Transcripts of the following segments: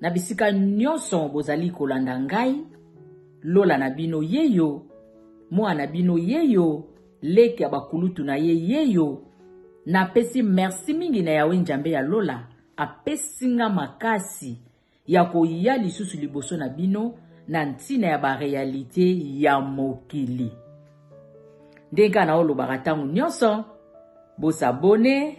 Na bisika nyonso bozali kolanda ngai, lola na bino yeyo, mwana na bino yeyo, leki ya bakulutu na ye yeyo. Napesi merci mingi na Yawe Njambe ya lola, apesi nga makasi ya koya lisusu liboso na bino na ntina ya barealite ya mokili. Ndenge kaka naolobaka ntango nyonso, bosabone,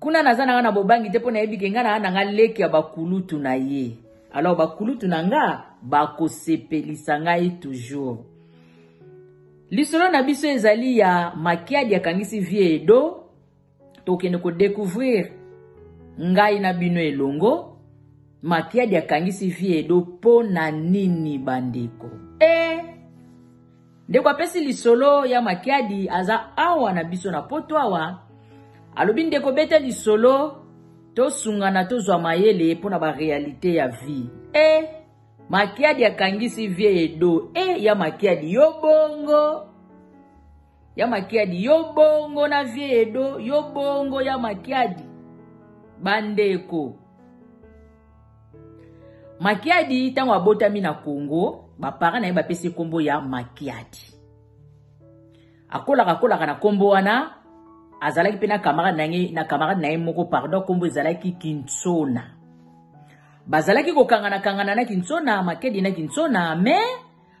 kuna naza nanga na bobangi te mpo nayebi ke nga naa nanga leki ya bakulutu na ye alors bakulutu na nga bakosepelisa ngai toujours lisolo na biso ezali ya makiadi akangisi vie edo tokende kodecouvrir ngai na bino elongo makiadi akangisi vie edo mpo na nini bandeko e eh! Ndeko apesi lisolo ya makiadi aza awa na biso na poto awa alobi ndeko beta lisolo tosungana tozwa mayele mpo na barealite ya vie e eh, makiadi akangisi vie edo e eh, ya makiadi yo bongo ya makiadi yo bongo na vie edo yo bongo ya makiadi bandeko makiadi ntango abotami na congo bapara na ye bapesi nkombo ya makiadi akolaka akolaka na nkombo wana azalaki mpe na camarade na ye na camarade na ye moko pardon nkombo ezalaki kinsona bazalaki kokangana kangana na kinsona makedi na kinsona me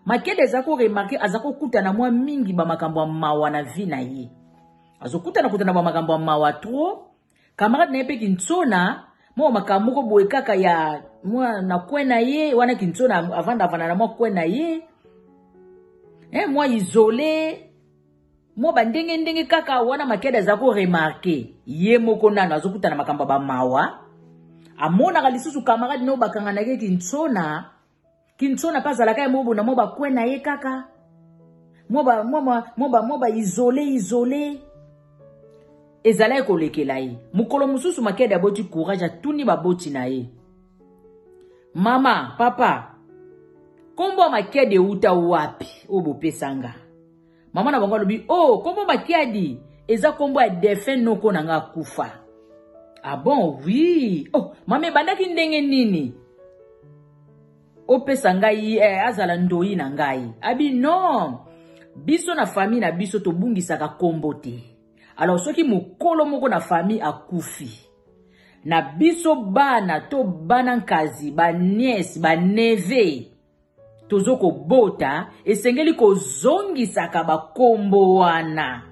makedi aza koremarke aza kokutana mwa mingi bamakambo ya mawa na vi na ye azokutana kutana bamakambo ya mawa trop camarade na ye mpe kintsona mwa makambo moko boye kaka ya mwa na kwe na ye wana kintsona avanda avanda na mwa kwe na ye eh, mwa isole mwa bandenge ndenge kaka wana makede aza koremarke ye moko nano azokutana makambo ya bamawa amonaka lisusu camarade nayo bakanganaki kintsona Kinsona pe azalaka ye moko na mwa bakwe na ye kaka mwa baisole isole ezalaki kolekela ye mokolo mosusu makede aboti courage atuni baboti na ye mama papa nkombo ya makede euta wapi oyo bopesa nga Mama na bango alobi, oh, kombo makiadi eza kombo ya defunt noko na nga akufa. Ah bon, oui. Oh, mama ebandaki ndenge nini? Opesa ngai eh, azala ndoyi na ngai. Abi non. Biso na famille na biso tobungisaka kombo te. Alors soki mokolo moko na famille akufi, na biso bana to bana nkazi, ba nièce, ba neveu, tozo kobota esengeli kozongisaka bakombo wana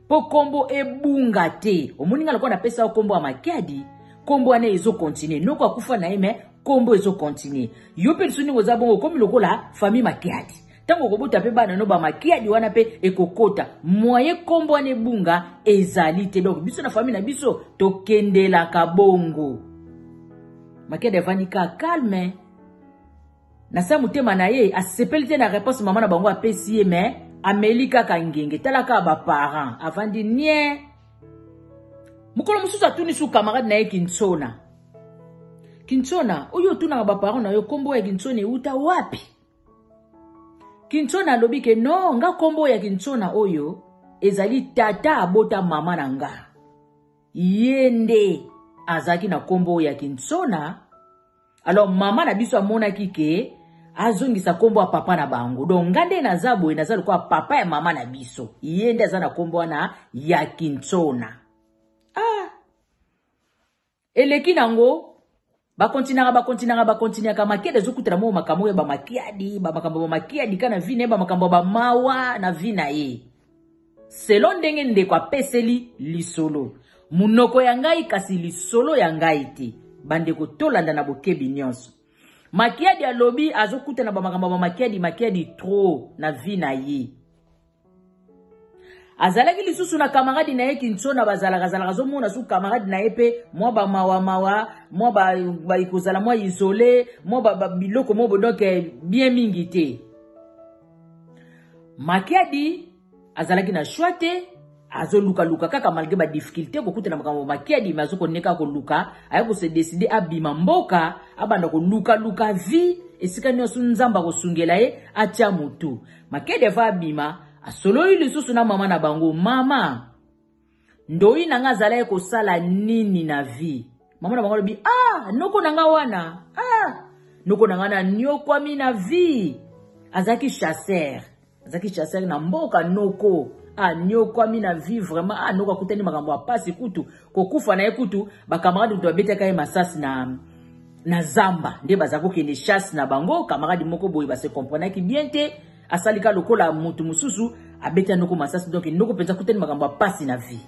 mpo kombo ebunga te omoni ngai lokola napesa yo kombo ya makiadi kombo wana ezokontinue noko akufa na ye me kombo ezokontinue yo mpe lisusu ndenge oza bongo okomi lokola famille makiadi ntango okobota mpe bana no bamakiadi wana mpe ekokota mwaye kombo wana ebunga ezali te donk biso na famille na biso tokendelaka bongo makiadi avandi ka calme na se motema na ye asepeli te na reponse mama na bango apesi ye me ameli kaka ngenge tala kaka baparent avandi nie mokolo mosusu atuni su camarade na ye kinsona kinsona oyo otunaka baparent na yo nkombo ya kinsona euta wapi kinsona alobi ke no nga nkombo ya kinsona oyo ezali tata abota mama na nga ye nde azalaki na nkombo ya kinsona alors mama na biso amonaki ke azongisa nkombo ya papa na bango donc nga nde naza boye naza lokola papa ya mama na biso ye nde aza na nkombo wana ya kinsona ah. eleki nango bakontinaka bakontinaka bakontinaka makiadi ezokutana moko makambo oyo bamakiadi bamakambo ya bamakiadi ka na vi na ye bamakambo ya bamawa na vi na ye Selon ndenge ndeko apeseli lisolo. Monoko ya ngai kasi lisolo ya ngai te. Bandeko tolanda na bokebi nyonso. Makiadi alobi azokutana ba makambo ma Makiadi Makiadi trop na vie na ye. Azalaki lisusu na kamaradi na ye Kinsona bazalaka azalaka azomona su kamaradi na ye mpe mwa ba mawa mawa mwa ba, ba ikozala mwa isole mwa ba, ba biloko mobo donc eh, bien mingi te. makiadi azalaki na choix te azolukaluka kaka malgre badifficulté kokutana makambo makiadi me azokoneka koluka aye kose deside abima mboka abanda kolukaluka vie esika nyonso nzambe akosungela ye atya motu makiadi ava abima asololi lisusu na mama na bango mama Ndoyi na nga azalaki kosala nini na vie? Maman na bango alobi, ah, noko na nga wana, ah, noko na nga na nyokwami na vie. Azalaki chasseur. Azalaki chasseur na mboka noko. Ah, nyokwami na vie vraiment. Ah, noko akutani makambo ya pasi kutu. Kokufa na ye kutu, ba camarades kutu babetaka ye masasi na na zamba nde bazalaki kokende chasse na bango camarade moko boye base comprenaki bien te asali ka lokola moto mosusu abeti ya noko masasi donk noko mpenza akutani makambo ya mpasi na vie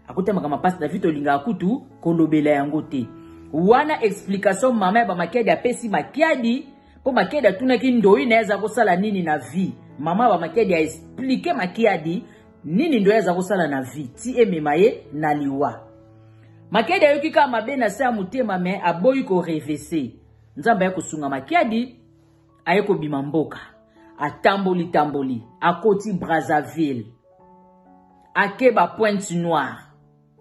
akutani makambo ya mpasi na vie tolingaka kutu kolobela yango te wana explication mama ya bamakiadi apesi makiadi mpo makiadi atunaki ndoi na ye aza kosala nini na vie mama ya bamakiadi aexplike makiadi nini ndoi aza kosala na vie ti emema ye na liwa makiadi ayoki kaka mabe na se ya motema me aboyi korevese nzambe aye kosunga makiadi aye kobima mboka atamboli tamboli akoti brazzaville ake ba pointe noire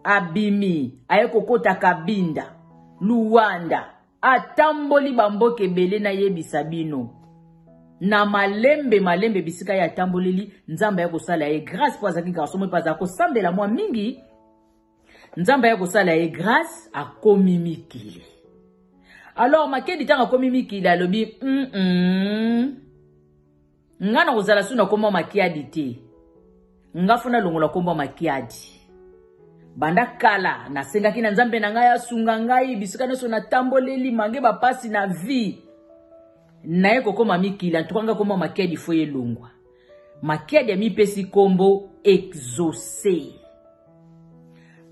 abimi aye kokota kabinda luwanda atamboli bamboka ebele nayebisa bino na malembe malembe bisika ye atamboleli nzambe aye kosala ye grâce mpo azalaki garçon moko azala kosambela mwa mingi Nzambe aya kosala ye grace akomi mikili. Alors Makedi ntango akomi mikili alobi mm -mm. nga na kozala su na nkombo ya makiadi te nga fo nalongola nkombo ya makiadi banda kala nasengaki na nzambe na ngai asunga ngai bisika nyonso natamboleli mange bapasi na vie naye kokoma mikili antuka ngai koma makiadi fo elongwa Makiadi amipesi nkombo exauce.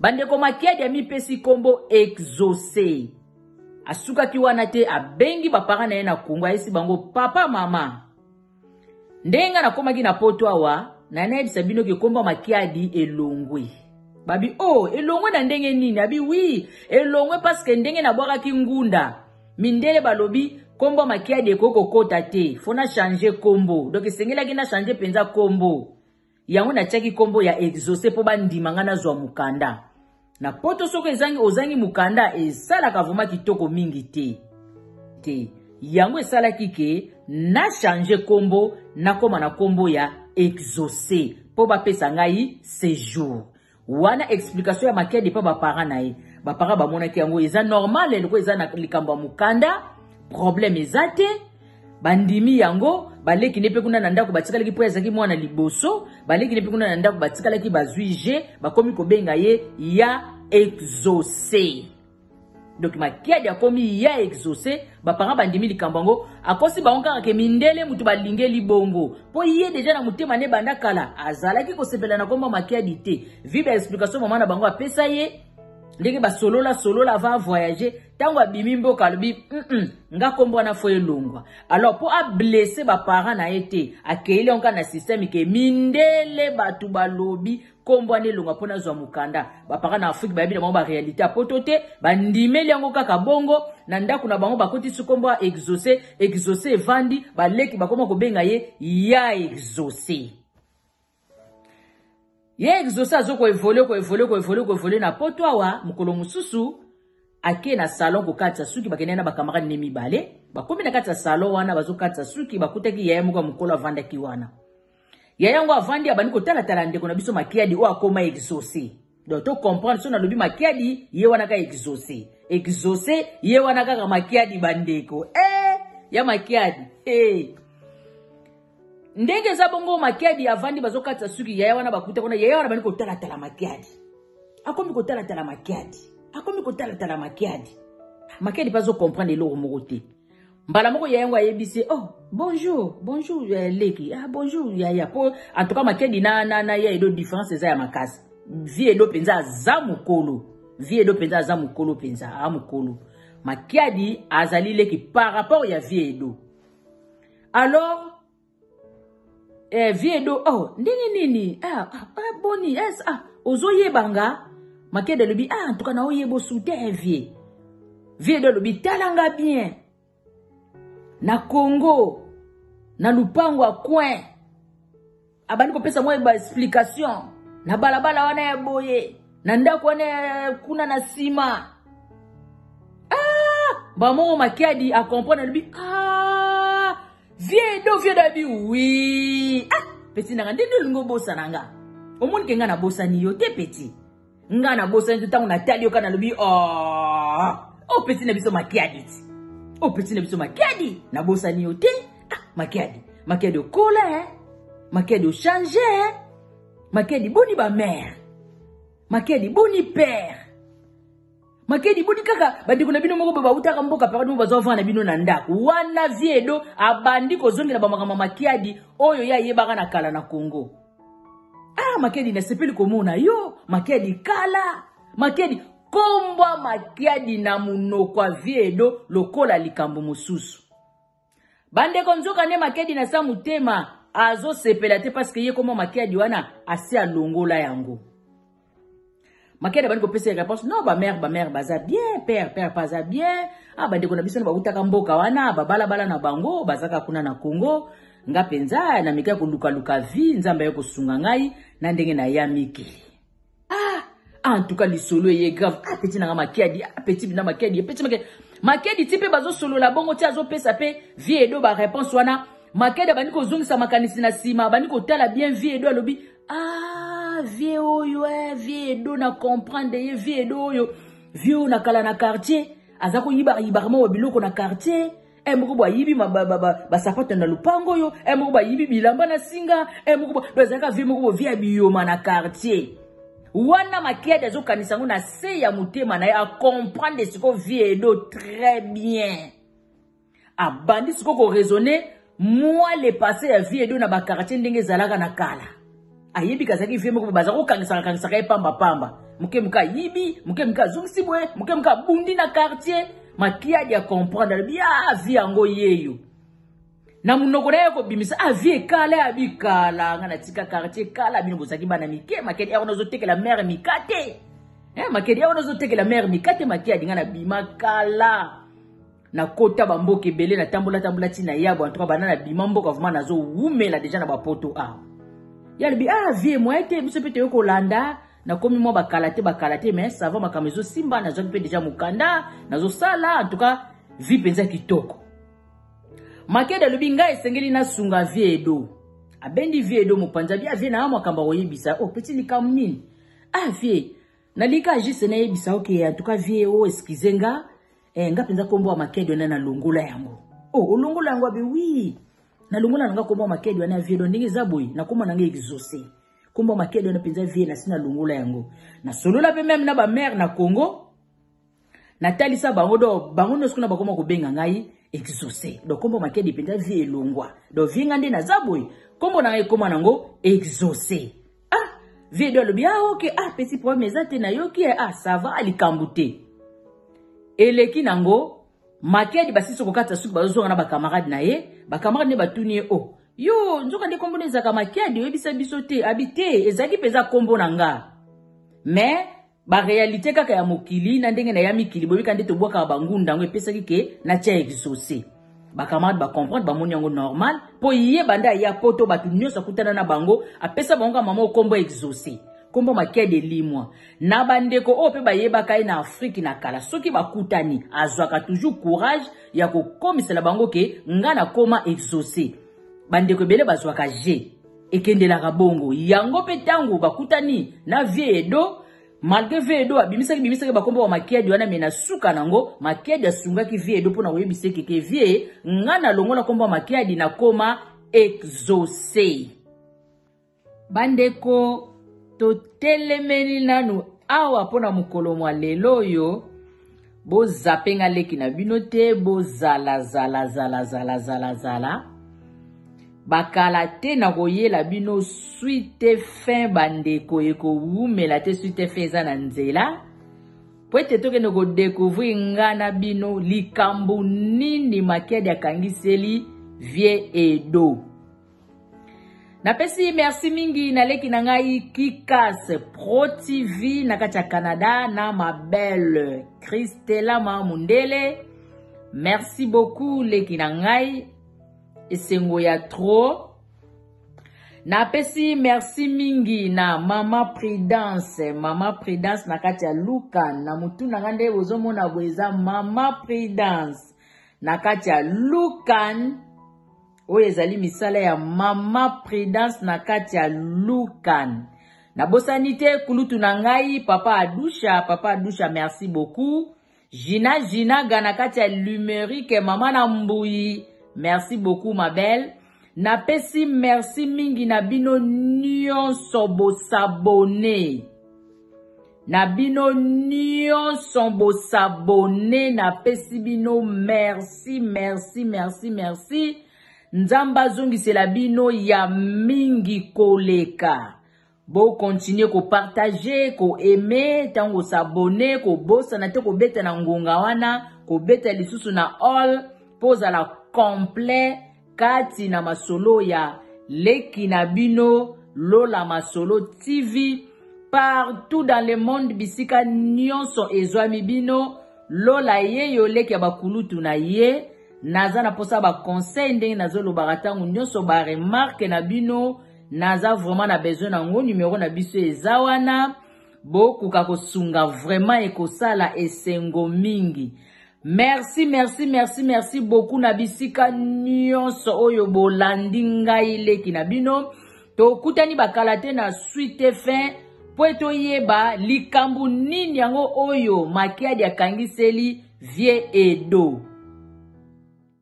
Bandeko Makiadi amipesi nkombo exauce. Asukaki wana te, abengi bapara na ye na Kongo, ayesi bango papa mama. Ndenge nga nakomaki na poto awa, na nayebisa bino ke nkombo Makiadi elongwe. Babi, oh, elongwe na ndenge nini? Abi, oui, elongwe parce que ndenge nabwakaki ngunda. Mindele balobi kombo makiadi ekoki kokota te fo na change kombo donc esengelaki na change mpenza kombo yango natiaki kombo ya exauce mpo bandima ngai nazwa mokanda na poto soki ezangi ozangi mokanda esalaka vrema kitoko mingi te te yango esalaki ke na change kombo nakoma na kombo ya exauce mpo bapesa ngai sejour Wana explication ya makiadi epa ba parents na ye. Ba parents bamonaki yango eza normal eloko eza na likambo ya mukanda, problème eza te. Bandimi yango, baleki ne pe kuna na ndako batikalaki po azalaki mwana liboso, baleki ne pe kuna na ndako batikalaki bazui je, bakomi kobenga ye ya exauce. donc makiadi akomi ya exauce baparent bandimi likambo yango akosi bango kaka ke mindele moto balingeli bongo mpo ye deja na motema ne banda kala azalaki kosepela na komba makiadi te vi ba explication mama na bango apesa ye ndenge basolola solola ava avoyage ntango abimi mboka alobi mm nga nkombo wana fo elongwa alors mpo ablesse baparent na ye te akeyeli yango kaka na systeme ke mindele bato balobi nkombo wana elonga mpo nazwa mokanda bapaka na afrike bayebi na bango barealité ya poto te bandimeli yango kaka bongo na ndako na bango bakotisi nkombo ya exauce exauce evandi baleki bakoma kobenga ye ya exauce ye exauce azo koevole koevole koevole koevole na poto awa mokolo mosusu ake na salon kokatisa suki bakende na bakamarade ne mibale bakomi na kati ya salon wana bazokatisa suki bakutaki yaya moko ya mokolo avandaki wana ya yango avandi abandi kotalatala ndeko na biso makiadi oyo akoma exauce donc to comprendre so nalobi makiadi ye wana ka exauce exauce ye wana kaka makiadi bandeko e ya makiadi e ndenge eza bongo makiadi avandi bazokatisa suki yaya wana bakuta kuna yaya wana bandi kotalatala makiadi akomi kotalatala makiadi akomi kotalatala makiadi makiadi mpe azocomprendre eloko moko te mbala moko ya yango ayebisi ye oh bonjour bonjour euh, leki ah bonjour yaya po en tout cas makedi na, na, na ya edo différence eza ya makasi vie edo mpenza aza mokolo vie edo mpenza aza mokolo mpenza a mokolo makiadi azali leki par rapport ya vie edo alors eh, vie edo oh, ndenge nini ah, ah, ah, boni yes, ah, ozoyeba nga makede alobi ah, ntuka na oyeba osu te eh, vie vie edo alobi tala nga bien na congo na lupango ya coin abandi kopesa mwa baexplication na balabala wana ya boye na ndako wana ya kuna na nsima ah, bamongo makiadi acomprendre alobi ah, Vieux Edo, vieux Dabi, oui. Ah, petit nanga, nde nde lingo bosa nanga. Omoni ke nga na bosa ni yo te petit. Nga na bosa ni tango na tali yo kana lobi, oh, oh petit na biso makiadi. Oh petit na biso makiadi, na bosa ni yo te. Ah, makiadi, makiadi okola, eh. Makiadi o change, eh. Makiadi boni ba mère. Makiadi boni père. makedi boni kaka bandeko na bino moko boye bautaka mboka papa bino bazwa vana na bino na ndako wana vie edo abandi kozongela bamakambo ya makiadi oyo ye ayebaka na kala na congo ah makiadi nasepeli komona yo makiadi kala makiadi kombwa makiadi na monoko ya vie edo lokola likambo mosusu bandeko nzoka nde makedi na sa motema azosepela te parceke ye koma makedi wana asi alongola yango makedi abandi kopesa réponse non bamare bamare baza bien père père baza bien a ah, bandeko na biso na bautaka mboka wana babalabala na bango bazaka kuna na congo nga mpenza na mika ya kolukaluka vie nzambe aye kosunga ngai na ndenge na ya mikili ah ah en tout cas lisolo eye grave ah petit nanga makiadi ah petit bina makiadi eh, petit makiadi makiadi ti mpe bazosolola bongo ti azopesa mpe vie edo bareponse wana makiadi abandi kozongisa makanisi na nsima abandi kotala bien vie edo alobi ah vie oyo eh, vie edo na comprendre ye vie edo oyo vie oyo na kala na quartier aza koyibayibarama wa biloko na quartier e moko bayibi basapato na lopango oyo e moko bayibi bilamba na singa e moko ezalaka vie moko bovie ya biyoma na quartier wana makiadi azokanisa yango na se ya motema na ye acomprendre siko vie edo très bien abandi siko koraisonne moi le passé ya vie edo na bakartier ndenge ezalaka na kala ayebi kazalaki vie moko baza kokangisaka kangisaka ye pamba pamba moke moke ayibi moke moke azongisi boye moke moke abundi na quartier makiadi ya comprendre alobi a vie yango yeyo na monoko na ye kobimisa a vie ekala ya bikala nga natika quartier kala bino bozalaki bana mike makedi yango nazotekela mare mika te makedi yango nazotekela mare mika te makiadi nga nabima kala nakota bamboka ebele natambolatambola ti na yabo antuka banda na bima mboka vraimen nazowumela deja na bapoto awa ye alobi ah vie moye te biso mpe toyei kolanda nakomi mwa bakala te bakala te mais sava makambo ezosimba nazwaki mpe deja mokanda nazosala antuka vi mpenza kitoko makede alobi ngai esengeli nasunga vie edo abendi vie edo mopanzi abi avie naa makambo akoyebisa o oh, peti likambo nini avie ah, nalika juste nayebisa oke okay, antuka vie o oh, eskize nga Eh, nga mpenza nkombo ya makedi wana nalongola yango o oh, olongola yango abe wi nalongola na nga nkombo ya makedi wana ya vielo ndenge eza boye nakoma na nga exauce nkombo ya makedi wana mpenza vie nasi nalongola yango nasolola mpe meme na bamare na congo natalisa bango do bango nyonso kuna bakoma kobenga ngai exauce do nkombo makedi mpenza vie elongwa do vie nga nde naza boye nkombo na ngai ekoma nango exauce ah vie do alobi ah ok ah petit problème eza te nayoki eh, ah ça va likambo te eleki nango makedi basisi kokata suki bazozonga na bacamarade na ye bacamarade nde batuni ye o oh, yo nzoka nde nkombo na ezalaka makedi oyebisa biso te abi te ezalaki mpenza nkombo na nga mais ba realite kaka ya mokili na ndenge na ya mikili boyebika nde tobwakaka bangunda yango epesaki ke na tia exauce bacamarade bacomprendre bamoni yango normal mpo ye banda aya poto bato nyonso akutana na bango apesa bango ka mama okombo exauce nkombo makia de limwa na bandeko oyo mpe bayebaka ye na afrike na kala soki bakutani azwaka toujours courage ya kokomisela bango ke ngai nakoma exauce bandeko ebele bazwaka je ekendelaka bongo yango mpe ntango bakutani na vie edo malgre vie edo abimisaki bimisaki bakombo ya makiadi wana me na suka nango makiadi asungaki vie edo mpo na koyebisa ekeke vie nga nalongola nkombo ya makiadi nakoma exauce bandeko totelemeli nanu awa mpo na mokolo mwa lelo oyo Bo zappe nga leki na bino te bo zala zala zala zala zala zala bakala te na koyela bino suite fin bandeko ekowumela te suite fin eza na nzela mpo ete tokende kodekouvrir nga na bino likambo nini makedi akangiseli vie edo napesi merci mingi na leki na ngai kikas pro tv na kati ya canada na ma belle kristelama mundele merci beaucoup leki na ngai esengo ya trop napesi merci mingi na mama prudence mama prudence na kati ya luka na motu na ngai nde bozomona boye eza mama prudence na kati ya lukan oyo ezali misala ya mama prudence na kati ya lukan nabosani te kulutu na ngai papa adusha papa adusha merci beaucoup jina jina ga na kati ya lumerike mama na mbuyi merci beaucoup ma belle napesi merci mingi na bino nyonso bosabone Na bino nionson bo s'abonner na pesi bino merci merci merci merci nzambe azongisela bino ya mingi koleka bo continuer ko partager ko aimer tango s'abonner ko bosana te ko beta na ngonga wana ko beta lisusu na all po zala complet Kati na masolo ya leki na bino Lola Masolo TV partout dans le monde bisika nionso ezwami bino Lola ye yo leki ya bakulutu na ye naza na posa ba conseil ndenge nazolobaka ntango nyonso ba remarque na bino naza vraiment na besoin na yango numero na biso eza wana bokoka kosunga vraiment ekosala esengo mingi Merci, merci, merci, merci beaucoup na bisika nyonso oyo bolandi ngai leki na bino. Tokutani bakala te na suite fin mpo ete oyeba likambo nini yango oyo makiadi akangiseli vie edo.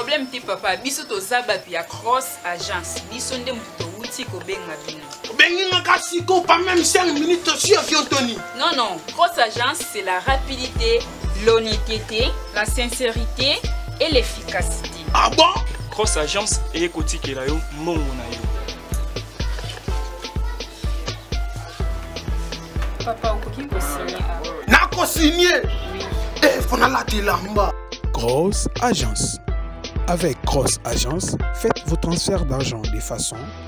problème te papa biso toza bato ya cross agence biso nde moto towuti kobenga bino Bengi nga ka siko pas même 5 minutes sur avion Tony. Non non, grosse agence c'est la rapidité, l'honnêteté, la sincérité et l'efficacité. Ah bon? Grosse agence et kotikela yo mongo na yo. Papa okoki ko signer. Na ko signer. Eh, faut na la tilamba. Grosse agence. Avec Cross Agence, faites vos transferts d'argent de façon